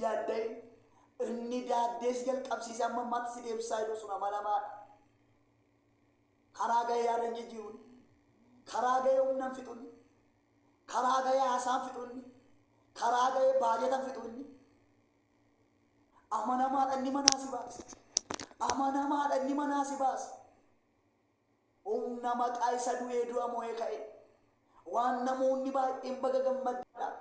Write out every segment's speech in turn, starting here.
yaadda'in inni daaddee si jalqabsiise amma ammaatti si deebisaa jiru sun amanamaadha. Karaa gahee yaada hin jijjiirun, karaa gahee humna hin fixun, karaa gahee haasaa hin fixun, karaa gahee baajata hin fixun. Amanamaadha inni manaa si baasa. Amanamaadha inni manaa si baasa. Humna maqaa isa du'ee du'a mo'ee ka'e. Waan namoonni baay'een baga gammaddan.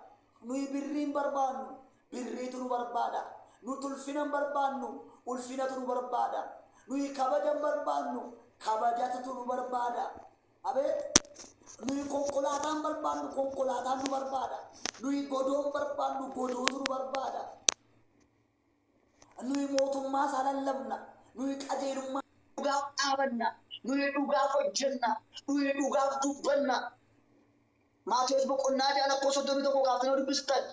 Nuyi birrii hin barbaannu, birriitu nu barbaada. Nuti ulfina hin barbaannu, ulfinatu nu barbaada. Nuyi kabaja hin barbaannu, kabajatutu nu barbaada. Abeet! Nuyi konkolaataa hin barbaannu, konkolaataan nu barbaada. Nuyi godoo hin barbaannu, godootu nu barbaada. Nuyi mootummaa isaa lallabna. Nuyi qajeelummaa. dhugaaf dhaabanna. Nuyi dhugaaf hojjenna. Nuyi dhugaaf dubbanna. Maatewos boqonnaa 6 lakkoofsa 31 kaaftanii yoo dubbistan,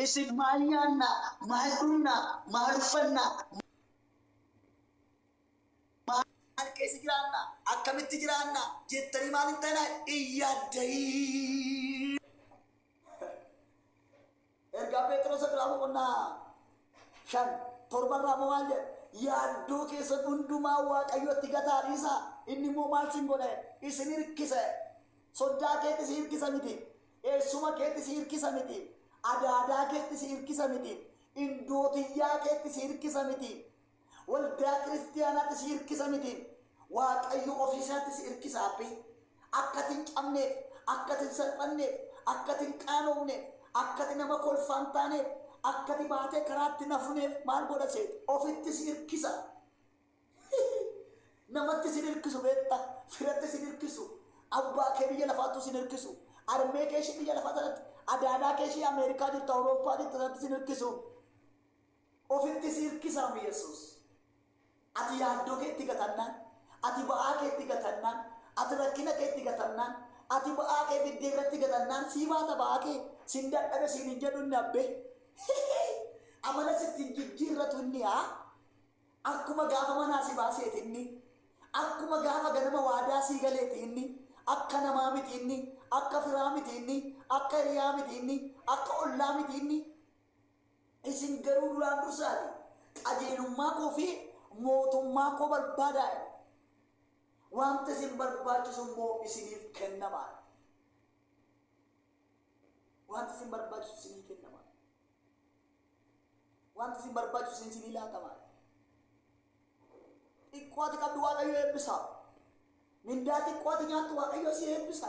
isin. maal nyaanna, maal dhugna, maal uffanna, maal keessa jiraanna, akkamitti jiraanna jettanii maal hin ta'inaa, hin yaadda'inaa. Ergaa Pheexirosa duraa boqonnaa 5 torba irraa immoo maal jedha? Yaaddoo keessan hundumaa Waaqayyotti gataa dhiisaa. Inni immoo maal sin godha? Isin hirkisa. Soddaa keetti si hirkisa miti. Eessuma keetti si hirkisa miti. Adaadaa keetti si hirkisa miti. Indoo tiyyaa keetti si hirkisa miti. Waldaa kiristiyaanaatti si irkisa mitii Waaqayyo ofii isaatti si irkisa abbi. Akka ati hin cabneef, akka ati hin salphanneef, akka ati hin qaanoofneef, akka ati nama kolfaa hin taaneef, akka ati baatee karaatti hin hafneef maal godha seeti? Ofitti si irkisa. Namatti sin irkisu beekta, firatti sin irkisu, abbaa kee biyya lafaattu sin irkisu, armee kee ishee biyya lafaa sanatti, adaadaa kee ishee Ameerikaa jirtu, Awurooppaa jirtu sanatti sin irkisu. Ofitti si hirkisaam Yesuus. Ati yaaddoo kee itti gatannaan, ati ba'aa kee itti gatannaan, ati rakkina kee itti gatannaan, ati ba'aa kee fiddee irratti gatannaan sii baata ba'aa kee, sin dadhabe siin hin jedhu inni abbee. Hihii! Amala sitti hin jijjiirratu inni haa! Akkuma gaafa manaa si baaseeti inni, akkuma gaafa ganama waadaa sii galeeti inni, akka namaa miti inni, akka firaa miti inni, akka hiriyaa miti inni, akka ollaa miti inni, Isin garuu duraan dursaatii qajeelummaa koo fi mootummaa koo barbaadaa jedhe. Wanta isin barbaachisu immoo isiniif kennama. Wanta isin barbaachisu isinii kennama. Wanta isin barbaachisu isin isinii laatama. Xiqqoo ati qabdu Waaqayyo eebbisa. Mindaa xiqqoo ati nyaattu Waaqayyo si eebbisa.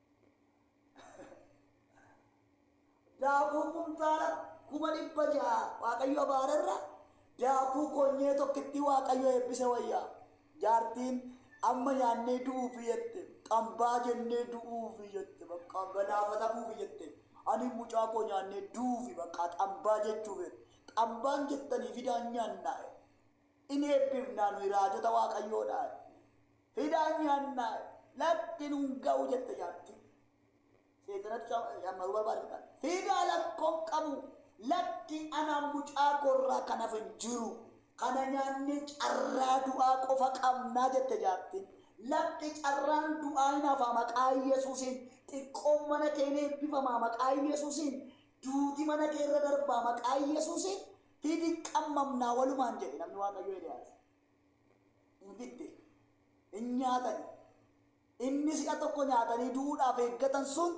daakuu kumtaala kuma dhibba ja'a waaqayyo abaarerra daakuu konyee tokkitti waaqayyo eebbise wayyaa jaartiin amma nyaannee du'uufi jette xambaa jennee du'uufi jette bakka galaafatamuufi jette ani mucaa koo nyaannee du'uufi bakka xambaa jechuufi xambaan jettanii fidaan nyaannaa in eebbifnaa nuyi raajota waaqayyoodhaa Hidhaan nyaannaa lakki nun ga'u jette jaartiin. Seexanatu cammaruu barbaada jedhaan. Hidhaa lakkoon qabu lakki anaan mucaa koorraa kan hafe hin jiru. Kana nyaannee carraa du'aa qofa qabnaa jette jaartiin. Lakki carraan du'aa hin hafaa maqaa Yesuusiin. Xiqqoon mana kee ni eebbifamaa maqaa Yesuusiin. Duuti mana kee irra darbaa maqaa Yesuusiin. Hidhi qammamnaa walumaan jedhe namni Waaqayyoo Eliyaas. hin fidde. Hin nyaatani. Inni si'a tokko nyaatanii du'uudhaaf eeggatan sun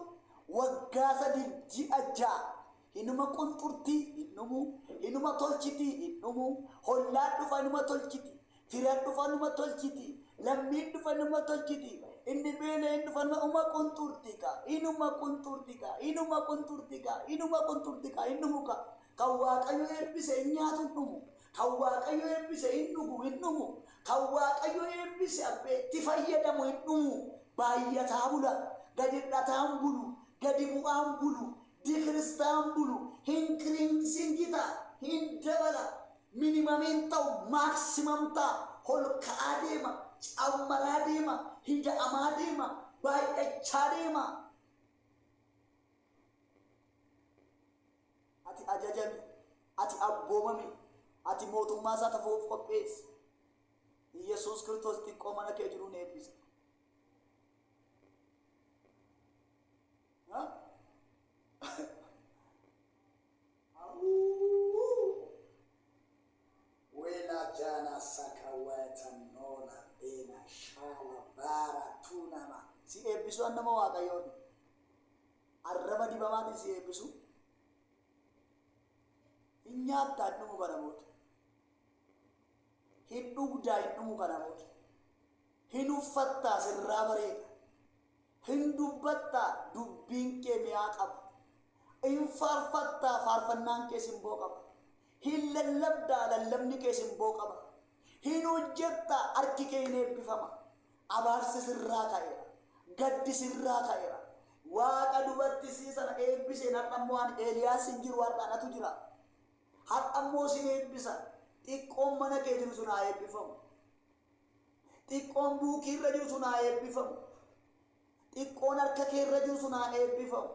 waggaa sadiif ji'a ja'a hinuma qunxurtii hin dhumu, hinuma tolchiti hin dhumu, hollaan dhufa hinuma tolchiti, firan dhufa hinuma tolchiti, lammiin dhufa hinuma tolchiti, inni beela hin dhufa hinuma uma qunxurtii ka, hinuma qunxurtii ka, hinuma qunxurtii ka, hinuma qunxurtii ka, hin dhumu ka. Kan Waaqayyo eebbise hin nyaatu hin dhumu. Kan waaqayyo eebbise hin dhugu hin dhumu Kan waaqayyo eebbise abbee itti fayyadamu hin dhumu Baayyataa bula gad hir'ataan bulu gadi bu'aan bulu Dikiristaan bulu hinkiriinsingii ta'a hin dabala Minimum hin ta'u maximum ta'a Holka'aa deema cammaraa deema hida'amaa deema baay'achaa deema Ati ajajami, ati abboomami, ati mootummaa isaa tafa of qopheessi. Iyyasuus Kiristoos xiqqoo mana kee jiru ni eebbisa. Ha? Awuu Wela jana saka wayata nola bena shala bara tu nama. Si eebbisu an nama waaqayyooti arraba dibamaatiin si eebbisu hin nyaatta hin dhumu kana booda hin dhugdaa hin dhumu kana booda hin uffattaa sirraa bareeda Hin dubbatta, dubbiin kee mi'aa qaba. In faarfatta, faarfannaan kee simboo qaba. Hin lallabda, lallabni kee simboo qaba. Hin hojjetta, harki kee in eebbifama. Abaarsi sirraa ka'eera. Gaddi sirraa ka'eera. Waaqa dubartissii sana eebbiseen har'a immoo ani Eeliyaas hin jiru har'a anatu jira. Har'a immoo sin eebbisa. Xiqqoon mana kee jiru sun haa eebbifamu. Xiqqoon buukii irra jiru sun haa eebbifamu. Xiqqoon harka kee irra jiru sun haa eebbifamu.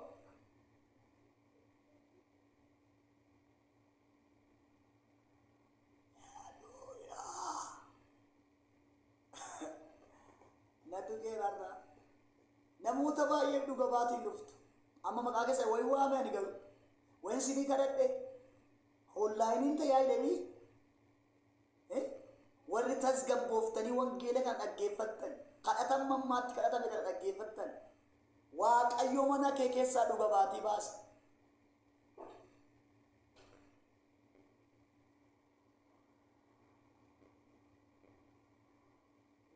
Natu geerarraa. Namoota baay'eef dhuga baatiin dhuftu. Amma maqaa keessa wayi waame ani garuu. Wayin sinii kadhadhe. Hollaayiniin tajaajilanii Ee, warri tasgabbooftanii wangeela kana dhaggeeffattan, kadhata amma ammaatti kadhatame kana dhaggeeffattan, Waaqayyo mana kee keessaa dhuga baatii baasa.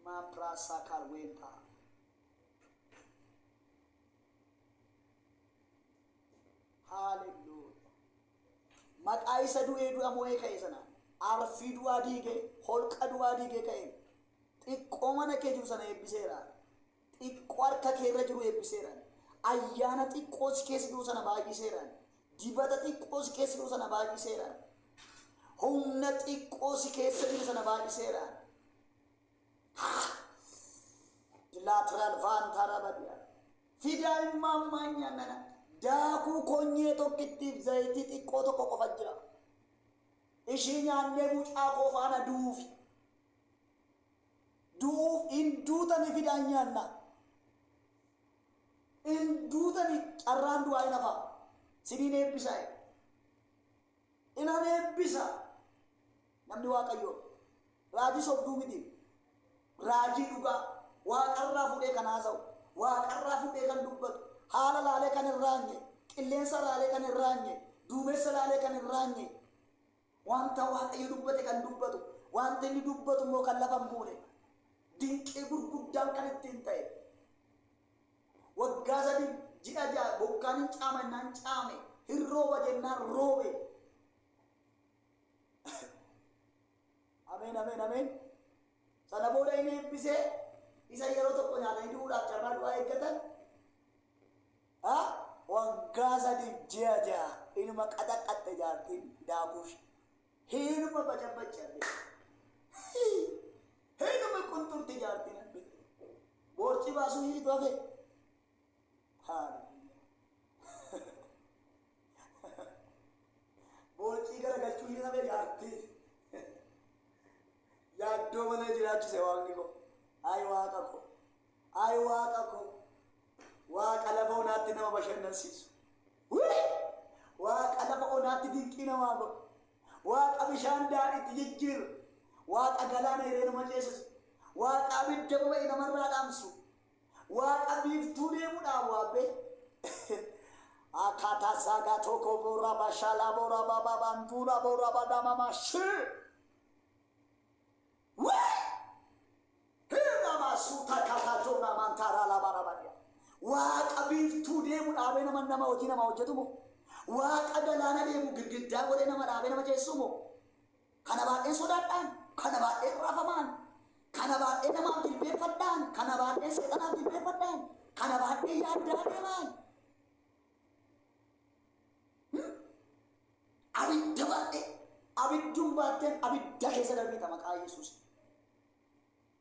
Maapraasaa kaalweentaa. Haaleluu. Maqaa isa du'ee du'a mo'ee ka'e sanaan, arfii du'aa diigee, holqa du'aa diigee ka'een, xiqqoo mana kee jiru sana eebbiseera, xiqqoo harka kee irra jiru eebbiseera, ayyaana xiqqoo si keessa jiru sana baay'iseera, dibata xiqqoo si keessa jiru sana baay'iseera, humna xiqqoo si keessa jiru sana baay'iseera. Lateral vaantaa rabadiyaa. Fidaa immaa ammaa nyaannana. Daakuu konyee tokkittiif zayitii xiqqoo tokko qofa jira. Ishii nyaannee mucaa koo faana du'uufi. Du'uuf hin duutani fidaa nyaanna. Hin duutani carraan du'aa hin hafaa. Siniin eebbisaa. Inan eebbisa. Namni Waaqayyoo. Raajii sobduu miti. Raajii dhugaa Waaqarraa fuudhee kan haasa'u, Waaqarraa fuudhee kan dubbatu, haala laalee kan hin raanye, qilleensa laalee kan hin raanye, duumessa laalee kan hin raanye, wanta Waaqayyo dubbate kan dubbatu, wanta inni dubbatu immoo kan lafa hin buune, dinqii gurguddaan kan ittiin ta'e, waggaa sadii ji'a ja'a bokkaan hin caama jennaan caame, hin rooba jennaan roobe, Ameen ameen ameen. Sana booda inni eebbisee isa yeroo tokko nyaatanii du'uudhaaf carraa du'aa eeggatan. Ha? Waggaa sadiif ji'a ja'a inuma qaxaqaxxe jaartiin daakuush. Hinuma bacabbachaa Hinuma qunxurti jaartiin abbe. Boorcii baasuu hiitu hafe. Haaleluyyaa. Boocii gara galchuu hin hafe jaartii. Yaaddoo malee jiraachise waaqni koo. Ay waaqa koo. Ay waaqa koo. Waaqa lafa onaatti nama bashannansiisu. Wii! Waaqa lafa onaatti dinqii namaa godhu. Waaqa bishaan daadhiitti jijjiiru. Waaqa galaana hireenuma ceesisu. Waaqa abidda boba'e namarraa dhaamsu. Waaqa biiftuu deemudhaan waabbe. Akata saga toko bora bashala bora baba bandura bora badama mashi. Wee! Hirra masuuta kata jona mantara la barabadia. Waaqa biiftuu deemu dhaabee nama nama hojii nama hojjetu moo? Waaqa galaana deemu girgiddaa godhee nama dhaabee nama ceessu moo? Kana baadheen sodaadhaan, kana baadheen raafamaan, kana baadhee namaaf jilbeeffadhaan, kana baadheen seexanaaf jilbeeffadhaan, kana baadheen yaaddaa deemaan. Hmm? Abidda baadhee, abidduun baatteen abidda keessa darbiita maqaa Yesuusiin.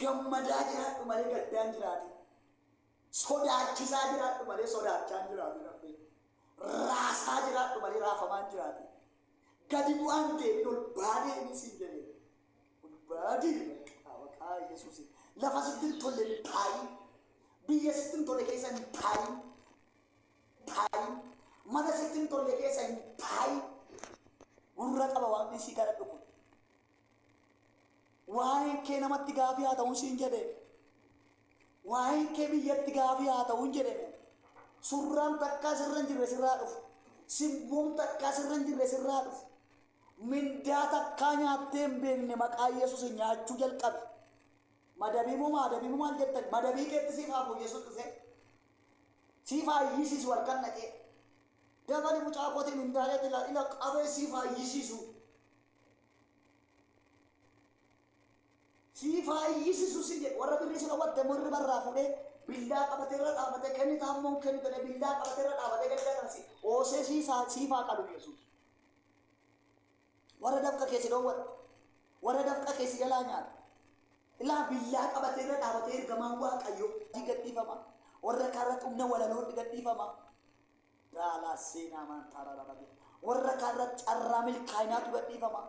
Gammadaa jiraadhu malee gaddaan jiraatin. Sodaachisaa jiraadhu malee sodaachaan jiraatin abbee. Raasaa jiraadhu malee raafamaan jiraatin. Gadi bu'aan deemin ol baa deemin siin jedhee. Ol baa deemin maqaa maqaa Yesuusin. Lafa sitti hin tolle hin taayin. Biyya sitti hin tolle keessa hin taayin. Taayin. Mana sitti hin tolle keessa hin taayin. Gurra qaba waaqni si kadhadhu kun. Waa'een kee namatti gaafii haa ta'uun siin jedhe. Waa'een kee biyyatti gaafii haa ta'uun jedhe. Surraan takkaa sirra hin jirre sirraa dhufu. Simboon takkaa sirra hin jirre sirraa dhufu. Mindaa takkaa nyaattee hin beekne maqaa Yesuus nyaachuu jalqabi. Madabii moo maadabii moo maal jettan madabii keetti siif haa fooyyessuun dhufee. Siif haa iyyisiisu halkan dhaqee. Dabali mucaa kootii mindaa keetti ilaa qabee siif haa iyyisiisu. sii faayyisisu si jedhe warra birrii si dhawwatte immoo irriba irraa fuudhee billaa qabatee irra dhaabatee kennitaa immoo hin kennitane billaa qabatee irra dhaabatee galgala sana si oosee sii saa sii faa qalu yesuus warra dafqa kee si dhowwatte warra dafqa kee si jalaa nyaata ilaa billaa qabatee irra dhaabatee ergamaan waaqayyoo gadhiifama warra kaarratti humna walaloo gadhiifama Daalaa seenaa maantaaraa dhabate. Warra kaan irratti carraa milkaa'inaatu gadhiifama.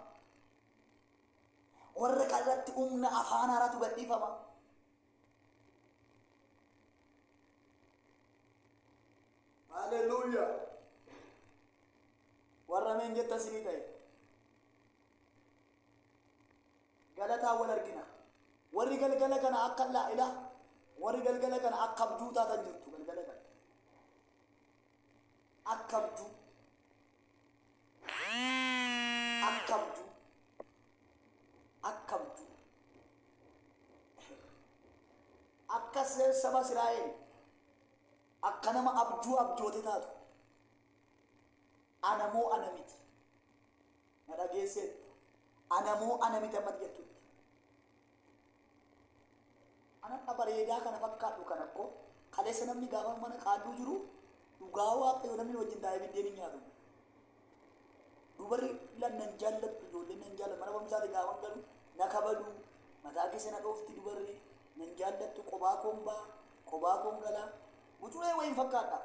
Warra kaan irratti humna afaan haaraatu gadhiifama. Haleluuyaa! Warra meen jettan sinii ta'e. galataan wal argina. Warri galgala kana akka laa ilaa warri galgala kana akka abjuu taatan jirtu galgala kana. Akka abjuu. Akka abjuu. Akka abjuu. Akka se- saba Israa'el akka nama abjuu abjoote taatu. Anamoo ana miti. na dhageesseetta. Ana moo ana miti ammati jettutti? Anadha bareedaa kana fakkaadhu kana kko kaleessa namni gaafa mana qaalluu jiru dhugaa waaqayyo namni nu wajjin taa'ee biddeen hin nyaatu. Dubarri lan nan jaallattu ijoolleen nan jaallattu mana barumsaati gaafan galu na kabadu mataa keessa na dhoofti dubarri nan jaallattu qobaa koon baa qobaa koon galaa bucuree wayiin fakkaadha.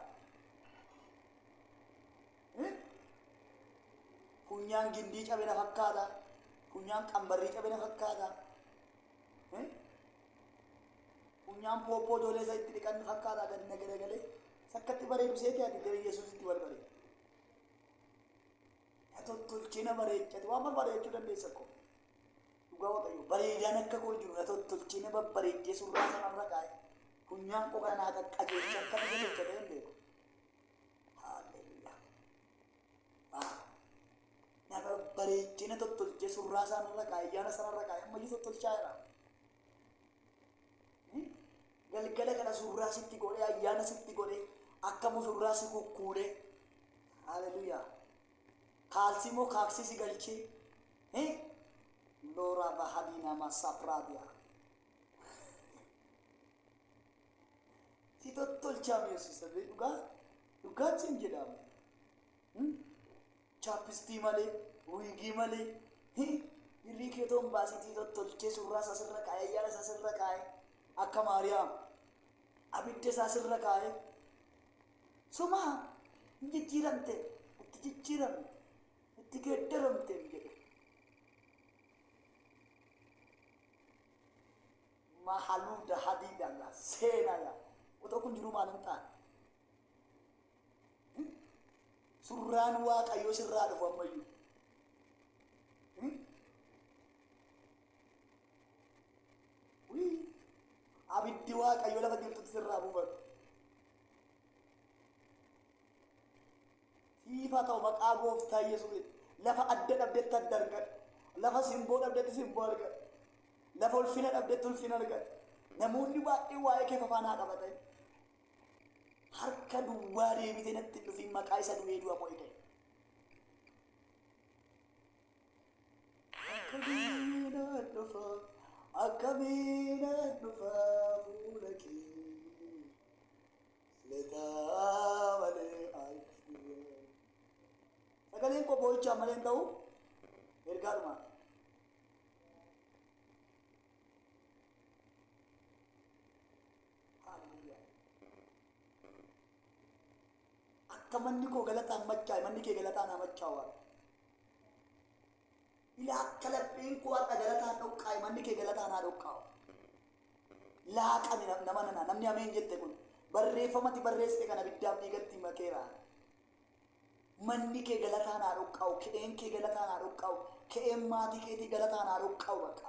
Funyaan gindii cabe na fakkaata. Funyaan qambarrii cabe na fakkaata. Funyaan pooppoo ijoollee isa itti dhiqan na fakkaata gadi na garagalee. Sakkatti bareedu seete ati gara Yesuusitti wal bareedu. Na tottolchee na bareechate waan barbaadachuu dandeessa koo. Dhugaa waaqayyo bareedaan akka koo hin jiru na tottolchee na babbareechee surraa sanarra kaa'e. Funyaan koo kana naa qaqqajeelcha akka na qajeelcha ta'e hin beeku. Haalleluuyaa. Waaw. Nama bareechina tottolchee surraa isaan irra kaa'e, ayyaana isaan irra kaa'e, ammayyuu tottolchaa jira. Hmm? Galgala kana surraa sitti godhee, ayyaana sitti godhee, akka musurraa si kukkuudhee. Haalleluuyaa. Kaalsii immoo kaaksii si galchee. Eh? Looraa bahadii namaa saapiraabiyaa. si tottolchaa mi'oosisa bee dhugaa dhugaa cin jedhaama Hmm? chaappistii malee wiigii malee hi birrii kee toon baasitii tottolchee surraa isaa sirra kaa'ee ayyaana isaa sirra kaa'ee akka maariyaam abidda isaa sirra kaa'ee sumaa hin jijjiiramte itti jijjiiramte itti geeddaramte hin jedhu Mahaluu dahadii dagaa seenaa yaa otoo kun jiruu maal hin taane Hmm? surraan waaqayyoo sirraa dhufu ammayyuu Hmm? Wii! abiddi waaqayyoo lafa jirtutti sirraa buufatu Siif haa ta'u maqaa gooftaa Yesuusiin. Lafa adda dhabdetti adda argadhu. Lafa simboo dhabdetti simboo argadhu. Lafa ulfina dhabdetti ulfina argadhu. Namoonni baay'een waa'ee kee fafaan haa qabatan. Harka duwwaa deebitee natti hin dhufiin maqaa isa du'ee du'a koo eegale. Akkamiin nan dhufa, akkamiin nan dhufa fuula kee. Letaa malee ayyee. Sagaleen koo boo'ichaa malee hin ta'u ergaa dhumaa. Haaleluyyaa. Akka manni koo galataan machaa'e manni kee galataan haa machaa'u. Ilaa akka lapheen koo har'a galataan dhoqqaa'e manni kee galataan haa dhoqqaa'u. Laaqame nama nana namni ameen jette kun barreeffamati barreessite kana biddaaf dhiigatti maqeera. Manni kee galataan haa dhoqqaa'u, ke'een kee galataan haa dhoqqaa'u, ke'een maatii keetii galataan haa dhoqqaa'u bakka.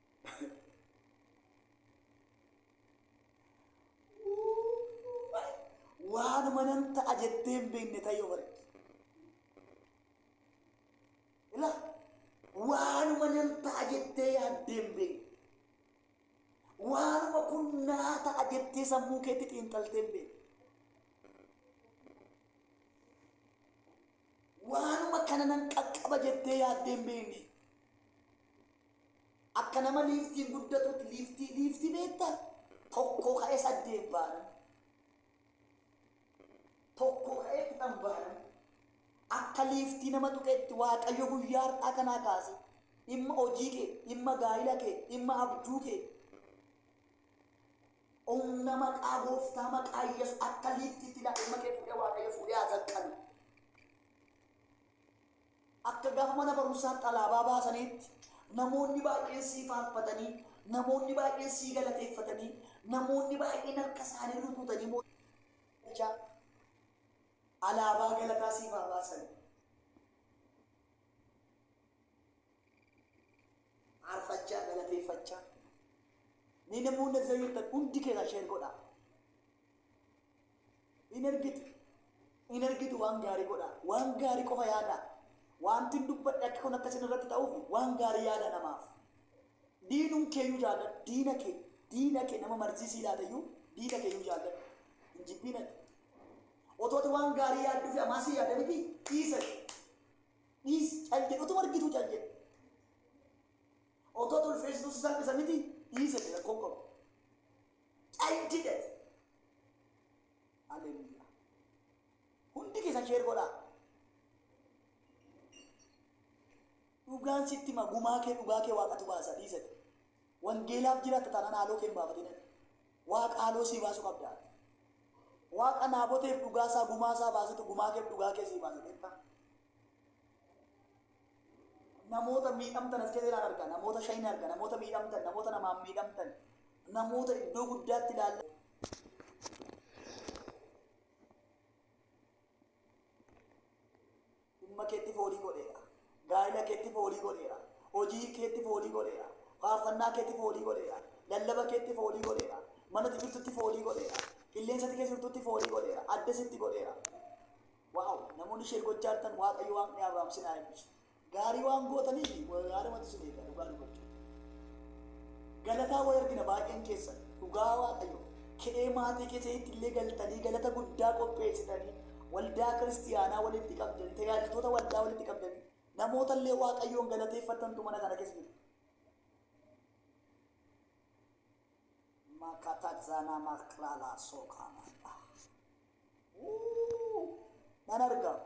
waanuma nan ta'a jettee hin beekne ta'ee of argite. Ila waanuma nan ta'a jettee yaaddee hin beekne. Waanuma kun naa ta'a jettee sammuu keetti xiinxaltee hin beekne. Waanuma kana nan qaqqaba jettee yaaddee hin beekne. Akka nama liiftiin guddatuutti liiftii liiftii beekta tokkoo ka'ee saddeet baanan tokkoo ka'ee kudhan baanan akka liiftii nama tuqeetti waaqayyo guyyaa har'aa kanaa kaase dhimma hojii kee dhimma gaa'ila kee dhimma abjuu kee humna maqaa gooftaa maqaa yesus akka liiftiitti daa'ima kee fuudhee waaqayyo fuudhee haa zaqqalu Akka gaafa mana barumsaatti alaabaa baasaniitti, namoonni baay'een sii faarfatanii, namoonni baay'een sii galateeffatanii, namoonni baay'een harka isaanii rukutanii mootichaa alaabaa galataa siif haa baasan. Faarfachaa galateeffachaa. Ni namoonni as jirtan hundi keessan sheer godhaa. Hin ergitu. Hin ergitu waan gaarii godhaa. Waan gaarii qofa yaadaa. Waantin dubbadhe akka kun akka isin irratti ta'uuf waan gaarii yaadaa namaaf. Diinum keeyyuu jaalladhu. Diina kee. Diina kee nama marzii sii laateyyuu diina keeyyuu jaalladhu. Hin jibbiin ati. Otoo ati waan gaarii yaadduu fi amaa sii yaada miti dhiisa. Dhiis cal jedhu otuma argituu cal jedhu. Otoo ati ulfeessituu si salphisa miti dhiisa jedhu rakkoon qabu. Cai dided. Hallelujah. Hundi keessan sheer godhaa. Dhugaan sitti hima gumaa kee dhugaa kee waaqatu baasa dhiisati. Wangeelaaf jiraatta taanaan haaloo kee hin baafatin. Waaqa haaloo sii baasu qabda. Waaqa naaboteef dhugaa isaa gumaa isaa baasetu gumaa keef dhugaa kee sii baasa beektaa. namoota miidhamtan as keessa ilaan arga namoota shayin arga namoota miidhamtan namoota namaan miidhamtan namoota iddoo guddaatti ilaalla dhimma keetti foolii godheera gaa'ila keetti foolii godheera hojii keetti foolii godheera faarfannaa keetti foolii godheera lallaba keetti foolii godheera manatti jirtutti foolii godheera qilleensatti keessa jirtutti foolii godheera adda sitti godheera Wow namoonni share gochaa jirtan waaqayyo waaqni Abrahaam sin haa eebbisu. Gaarii waan gootaniif haadhumatu sin eega dhugaa dubbachuu. Galataa wal argina baay'een keessan dhugaa waaqayyo ke'ee maatii keessanitti illee galtanii galata guddaa qopheessitanii waldaa kiristiyaanaa walitti qabdanii tajaajiltoota waldaa walitti qabdanii namoota illee waaqayyoon galateeffattantu mana kana keessa jiru. Makatadza na maklala sokanada. Wuu! Nan argam.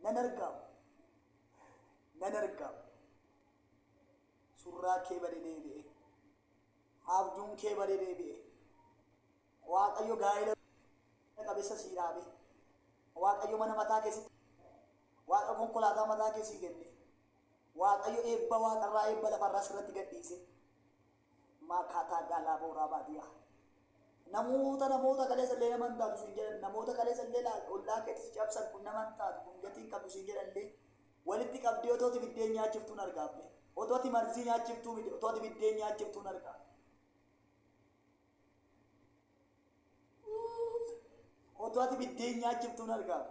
Nan argam. Nan argam. Surraa kee bade deebi'e. Haabjuun kee bade deebi'e. Waaqayyo gaa'ela qabeessa sii dhaabe. Waaqayyo mana mataa keessatti waaqa konkolaataa mataa kee sii kenne. Waaqayyo eebba waaqarraa eebba lafarraa sirratti gad dhiise. Maakaataa gaalaa booraa baadiyaa. Namoota namoota kaleessa illee nama hin taatu siin jedhan namoota kaleessa illee laal ollaa keetti si cabsan kun nama hin taatu kun gatii hin qabdu siin jedhan illee walitti qabdee otoo ati biddeen nyaachiftuun argaa abbe otoo ati marzii nyaachiftuu miti otoo ati biddeen nyaachiftuun argaa. Otoo ati biddeen nyaachiftuun argaa.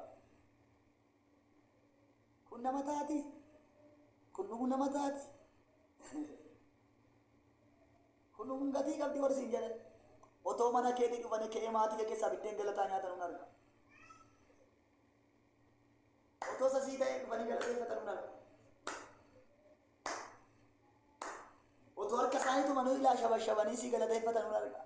Kun nama taati? Kun dhugu nama taati? Kun dhugun gatii qabdi warri siin jedhan. Otoo mana keetii dhufanii ka'ee maatii kee keessaa biddeen galataa nyaatan hin arga. Otoo sasii ta'ee dhufanii galateeffatan hin arga. Otoo harka isaanii tumanii ilaa shabashabanii sii galateeffatan hin arga.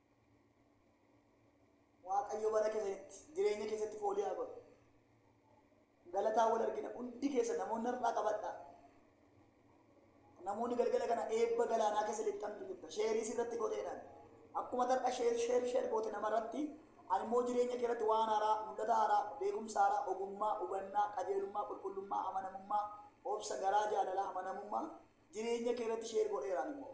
Waaqayyo bara keessanitti jireenya keessatti foolii haa godhu. Galataa wal argina hundi keessa namoonni har'aa qabadhaa. Namoonni galgala kana eebba galaanaa keessa lixxantu jirta. Sheerii sirratti godheedhaan. Akkuma tar'a sheer sheer sheer goote namarratti ani immoo jireenya kee irratti waan haaraa, mul'ata haaraa, beekumsa haaraa, ogummaa, hubannaa, qajeelummaa, qulqullummaa, amanamummaa, obsa, garaa jaalalaa, amanamummaa jireenya kee irratti sheer godheeraan immoo.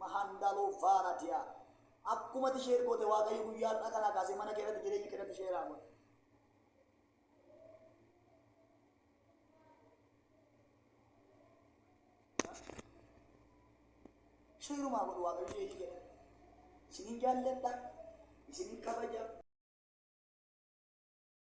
Mahandalo Varatia Akkuma ati share goote Waaqayyo guyyaa har'aa kanaa kaasee mana kee irratti jireenya kee irratti share haa godhu. Sheerumaa godhu Waaqayyo jireenya kee irratti. Isinin jaalladha, isinin kabaja.